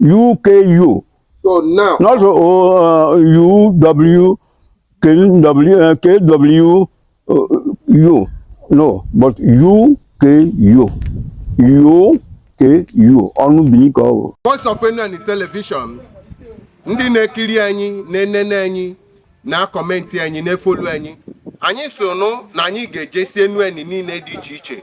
UKU. So now. Not O uh, U W K W uh, K W uh, U. No, but U K U. U K U. Ọnụ bini ka ọ Voice of Enuani television. Ndị na-ekiri anyị, na-enene anyị, na-akọmenti anyị, na-efolu anyị. Anyị sị ụnụ na anyị ga-ejesi Enuani niile dị iche iche.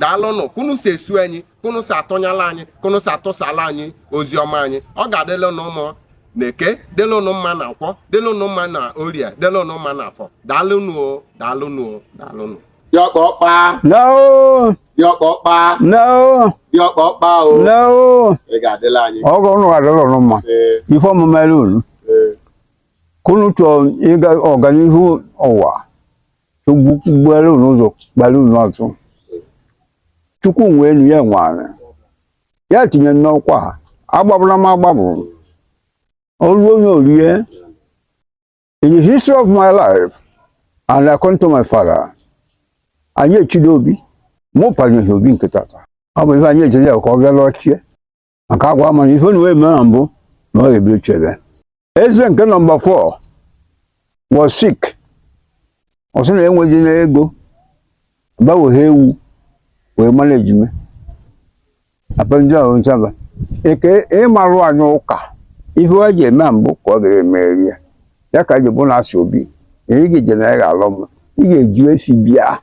daalụnụ kunu si eso anyị kunu si atụnyala anyị kunu si atụsala anyị ozi ọma anyị ọ ga-adịla ụnụ mma na eke dịla ụnụ mma na nkwọ dịla ụnụ mma na orie dịla ụnụ mma na afọ daalụnụ o daalụnụ o daalụnụ Diọkpọkpa, No, diọkpọkpa, no, diọkpọkpa o. no. Ị ga-adịla anyị. Ọ ga ụnụ adịla ụnụ mma. Ise, Ife ọmụma elu unu. Ise. Kunu chọọ ịga ọganihu ụwa. chukwu gbuere unu ụzọ gbara unu ọtụ chukwu nwe enu ya nwe anị ya tinye n'ọkwa a, agbabụna m agbabụ olu onye orie in the history of my life and according to my father anyị echido obi mụ panyere obi nke tata ọ bụ ife anyị ejezi ya ka ọ bịa lọchie maka agwa ama na ife na wee mee na mbụ na ọ ga-ebido chebe eze nke number 4 was sick ọ sị na enweghị na ego gbanweghe ewu wee mara ejime apelụjọ ahụ nsaba eke ịmarụ anyị ụka ife wa ji eme mbụ ka ọ ga-emeri ya ya ka ji bụ na asị obi na ị ga-eje na ị ga-alọ mma ị ga-eji esi bịa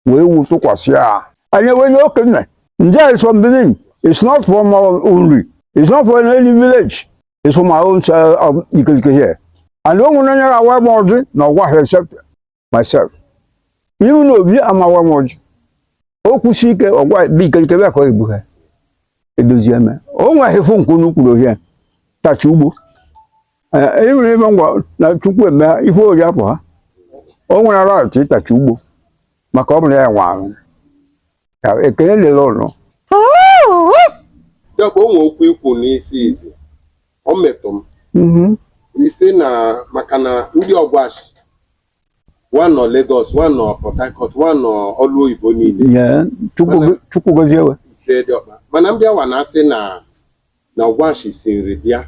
wee wu tụkwasị ya anyị wee nye okenye nje is from Benin it's not from Uri it's not from any village it's from my own uh, um, Ikelike here and o nwere onye ga-awa m ọjị na ọgwa ha except myself even Obi ama-awa m ọjị o kwụsị ike ọgwa bụ Ikelike bịa ka ọ egbu ha edozie eme o nweghị fụ nke unu kwuru ohie tachi ugbo e nwere ebe ngwa na chukwu eme ife ori afọ ha o nwere ara ọchị ịtachi ugbo maka ọ bụrụ ya nwe ahụ Ya, ekele lere ụlọ ya bụ o nwe okwu i kwu n'izizi ọ metụ m Mhm. ị sị na maka na ndị ọgwashi wa nọ Lagos wa nọ Port Harcourt wa nọ ọlụ oyibo niile Ya, chukwu go- chukwu gozie we ise diọkpa mana m bịa wa na-asị na na ọgwashi si Nri bịa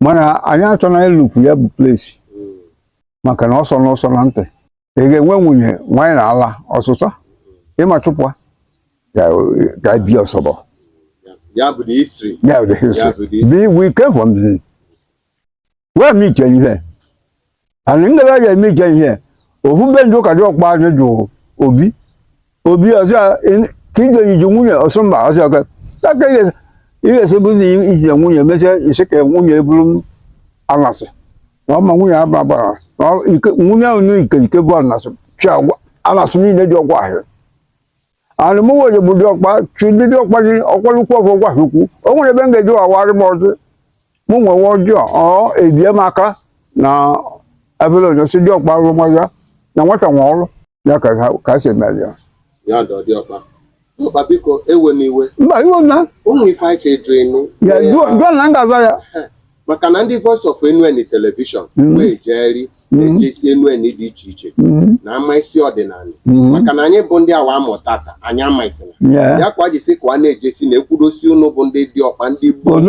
mana anyị achọna ịlụfu ya bụ place maka na ọ sọ unu ụsọ na ntị ị ga-enwe nwunye nwanyị na ala ọsụsa ịma chụpụa ka ka bi ọsọbọ ya bụ the history ya bụ the history. Ya bụ the history. Be- we came from the where me tell you here anyị ndị ya eme ike ihe ofu be ndị ụka diọkpa anyị jụ obi obi ọsọ ka ije iji nwunye ọsọ mba ọsọ ọka aka ihe esobu na ije nwunye mechaa isi ka nwunye eburu m anasị na ọma nwunye aba bara na ọ- ike- nwunye ahụ na Ikelike bụ anasị chị agwa anasị niile dị Ọgwashi and mụ wee bụ diọkpa chị ndị diọkpa gị ọkwalukwu ọfọ gwasokwu o nwere ebe m ga-eji wa wara m ọjị mụ nwewe ọjọọ ọ edie m aka na efere onye si diọkpa arụmọya na nwata nwe ọrụ ya ka ha- ka si emere ya ya dọ diọkpa biko ewena iwe mba iwe na ụmụ ife anyị chọ ịjụ ịnụ ya jụọ jụọ na m ga-aza ya maka na ndị Voice of Enuani telivishọn mm-hmm. wee jeeri mm-hmm. ejesi Enuani dị iche iche mm-hmm. na-amasị ọdịnala maka na anyị bụ ndị awa amụta ka anyị ama isina ya kwa jisi ka a na-ejesi na ekwudosi ụnụ bụ ndị diọkpa ndị gboo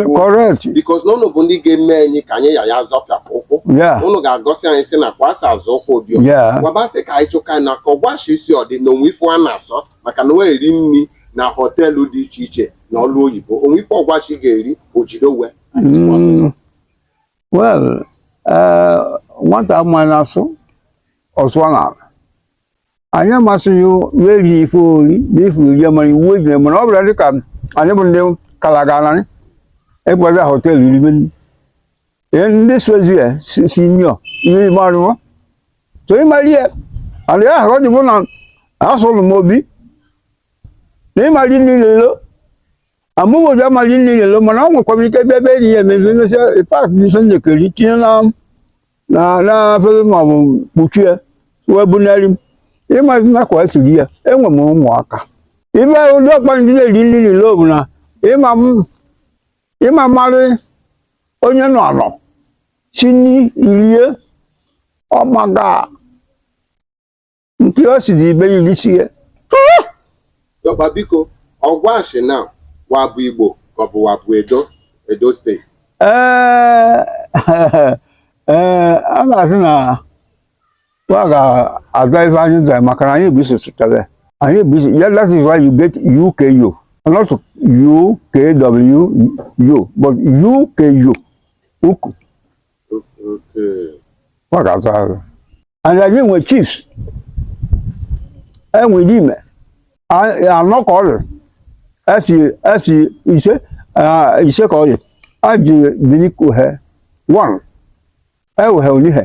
because na ụnụ bụ ndị ga-eme anyị ka anyị ya ya zọfie ụkwụ ụnụ ga-egosi anyị si na ka wa si azọ ụkwụ diọkpa gwabasị ka anyị chụka na ka Ọgwashi si dị na o nwe ife a na-asọ maka na o eri nri na họteelụ dị iche iche na ọlụ oyibo o nwe ife Ọgwashi ga-eri ojidowe Mm, well eh, nwata amaghị na-asụ ọsụọ n'ala anyị amasịghị ya eri ife o ri na ife uri mara iwu ejire mana ọ bụla dị ka anyị bụ ndị kalaganarị ịbụgazi họtel iribe nri Ee, ndị sozi ya si si nyọ ihe ime arụwa so ịmara ihe ala ya ahụ ọ dịbụ na asụlụ m obi na ịmara niile amụghị ụdị amaghị eri nri n'ilo mana ọ nwekwa m ike bịa ebe enyi ya emezi emesịa pak dị ife njekeri tinye na na na afere ma ọ bụ kpuchie wee bunarị m ị mazi ka wa siri ya enwe m ụmụaka ife diọkpa ndị na-eri nri n'ilo bụ na ịma m- ịma marị onye nọ anọ si nri rie ọmaga nke o si dị ibe ya irisi ya Diọkpa biko, Ọgwashi na wa bụ Igbo ka ọ bụ wa bụ Edo, Edo steeti. ee ee a ga-asị na wa ga-aza ife anyị zara maka na anyị bụ isi sụtara anyị bụ isi yeah, that is why you get UKU not UKWU but UKU uku ọ ga-azụ azụ and anyị nwe chiefs e nwe ndị ime A- anọ ka ọ dị esi esi ise ah, ise ka ọ dị a ji dịrị kuhe one ewuhe Onihe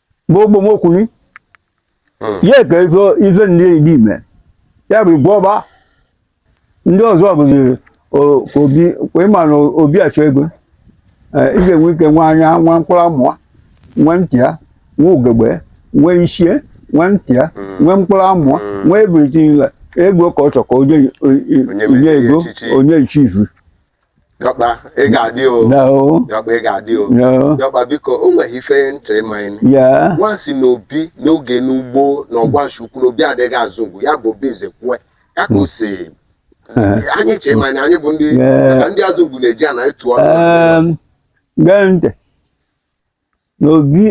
bụ ogbomokwuli hmm. ya ka ife ife ndị enyi ime ya bụ igwọba ndị ọzọ bụzi obi ịma na obi achọ ego eh, ị ga-enwe ike nwa anya nwa mkpụrụ amụwa nwa ntị ya nwa ugegbe nwa ichie nwa ntị ya hmm. nwa mkpụrụ amụwa hmm. nwa ebiriti ego ka ọ chọ ka onye ego onye ichizu Diọkpa, ị ga-adị o. No. Diọkpa, ị ga-adị o. No. Diọkpa, biko, o nweghị ife ntị ịma anyị. Yeah. Wa sị na obi n'oge n'ugbo na Ọgwashi Ukwu na obi adịghị Azụngwu ya bụ Obi Nzekwue. Ya ka o si anyị chee ma na anyị bụ ndị Yeah. maka ndị Azụngwu na-eji ana etu ọnụ. Um, gee ntị. na obi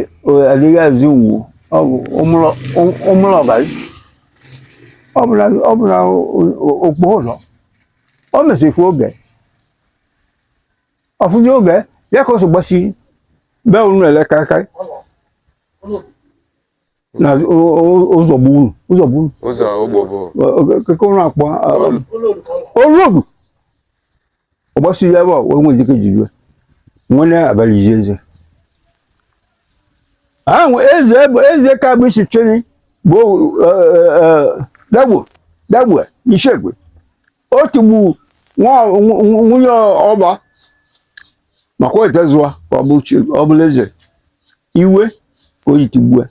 adịghị Azụngwu ọ bụ ụmụrụ ọbara ọ bụ na ọ bụ na okpo ụlọ ọ mesịrị oge ọfụzi oge ya ka o so gbasiri be unu ele karịkarị na ụzọ bụ unu ụzọ bụ unu ụzọ ogbo bụ keke ụlọ akpọ Olodu ọgbasi ya ebe a wee nwee jike jiri nwene abalị ji eze ahụ eze bụ eze ka bụ isi cheni bụ dagbo dagbo n'ishegbe o tigbu nwa- nw- nw- nwunye ọba maka o etezụwa ka ọ bụ chi ọ bụla eze iwe ka o ji tigbue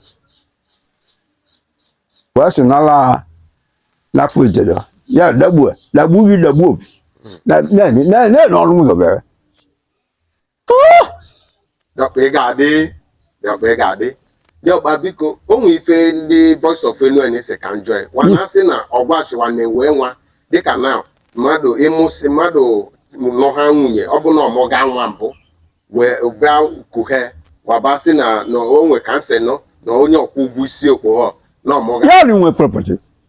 ka ọ sị nala ha n'afọ ijere ya dagbue dagbu gị dagbu obi na na na na ọrụ m gọbere diọkpa ị ga-adị diọkpa ị ga-adị diọkpa biko o nwee ife ndị Voice of Enuani sị ka m jụọ ya wa na-asị na Ọgwashi wa na-enwe nwa dịka na mmadụ ịmụsị mmadụ nọ ha nwunye ọ bụ na ọ mụga nwa mbụ wee bịa kuhe wa ba sị na na o nwe ka m sị nụ na onye ọ kwụ ụgwọ isi okpogho na ọ mụga Nwaanyị nwe property.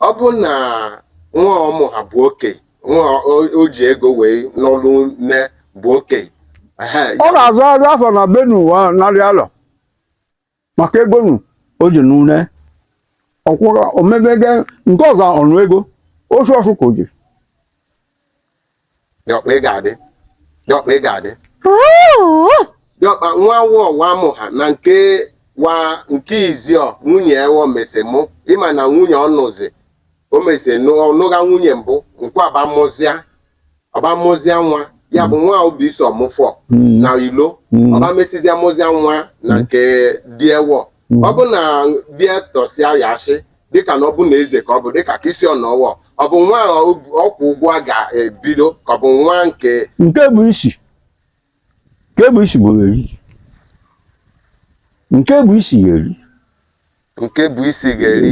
ọ bụ na nwa ọ mụ ha bụ oke nwa o- o ji ego wee nụlụ nne bụ oke ehe ọ na-azụ azụ afọ na be unu wa narị alọ maka ego nụ o ji nụ nne ọ kwụrụ omebege nke ọzọ ọnụ ego osu ọsụ ka o ji diọkpa ị ga-adị diọkpa ị ga-adị diọkpa nwa wụọ wa mụ ha na nke wa nke iziọ nwunye ewọ mesi mụ ịma na nwunye ọ nụzi o mesi ọ nụga nwunye mbụ nke ọba mụzịa ọba mụzịa nwa ya bụ nwa obi iso ọmụfọ Mm. na ilo Mm. ọba mesizia mụzịa nwa na nke dị ewọ hmm. ọ bụ na bịa tọsịa ya asị dịka na ọ bụ na eze ka ọ bụ dịka ka isi ọnọwọ ọ bụ nwa ọ kwụ ụgwọ a ga-ebido ka ọ bụ nwa nke nke bụ isi nke bụ isi bụ eri nke bụ isi ga-eri nke bụ isi ga-eri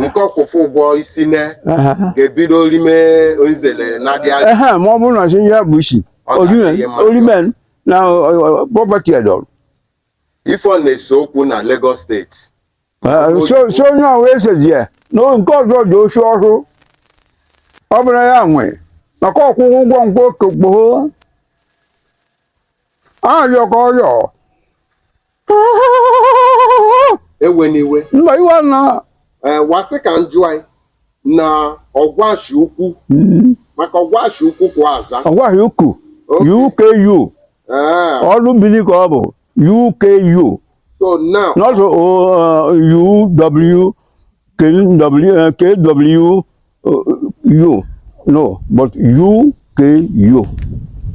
nke ọ kwụfụ ụgwọ isi na ga-ebido rime nzele na-adị anya ma ọ bụrụ na chi ihe bụ isi orimen na property edọrụ Ife ọ na-ese okwu na Lagos state. Eh, so so onye ahụ esezie na o- nke ọzọ dị osi ọhụụ ọ bụrụ ya nwe maka ọkwụkwụ ụgwọ ngwa okokpoo arịọ ka ọrịọ Ewe n'iwe. mba iwe na Eh, wa sị ka njụ anyị. na ọgwashi ukwu mm. maka ọgwashi ukwu ka a za ọgwashi uku UKU ah. ọnụ Bini ka ọ bụ UKU so now not uh, UW KW U no but UKU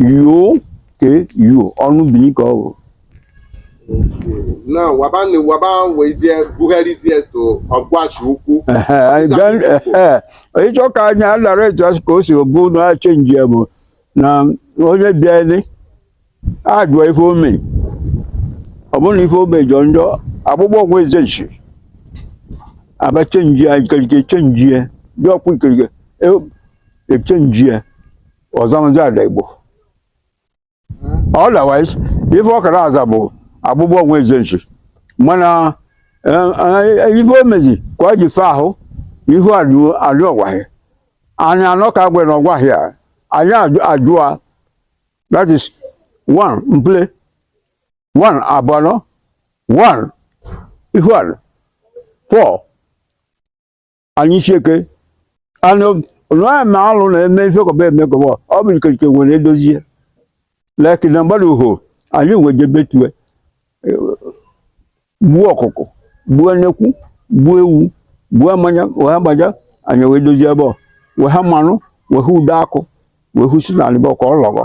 UKU ọnụ Bini ka ọ bụ na waba na waba wee jee bugharịzie to ọgwashi ukwu Ehe, anyị Ọfịsa gaa- ndị Igbo. ehe. ị chọ ka anyị alara etu asị ka o si bụ na chenji ya bụ na onye bịali a jụọ ife o me ọ bụrụ na ife o me jọ njọ akpụkpọ ọgwụ eze nchi a bịa chenji ya ikerike chenji ya dị ọkwa ikerike e- echenji ya ọ zamazi Adaigbo otherwise ife ọ ka na-aza bụ agbụgbọ onwe ezenchi mana eh, eh, ife o mezi ka ọ ji fe ahụ ife adị ọgwaghị anyị anọ ka agwa na ọgwaghị a anyị ajụ- ajụa that is one mple one abụọ one ife adị four anyị chieke anụ nwaanyị ma alụ na-eme ife kọba eme kọba ọ bụ ikerike nwere edozie leki na mgbada uho anyị wee jebe tue gbuo ọkụkụ gbuo nnekwu gbuo ewu buo mmanya wee agbaja anyị wee dozie ebe ọ wee ha mmanụ wee hụ ude akụ wee hụ si na alịbọ ka ọ lọgọ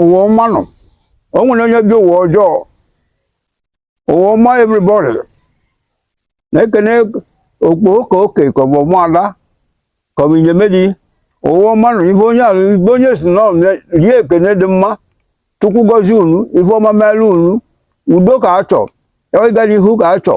ụwa ọma nụ o nwene onye ya-ebi ụwa ọjọọ ụwa ọma everybody na-ekene okpoho ka oke ka ọ bụ ụmụada ka ọ bụ inyemedi ụwa ọma nụ ife onye ahụ ibe onye si nọ rie ekene dị mma chukwu gọzie unu ife ọma meelu unu udo ka a chọ ịga n'ihu ka a chọ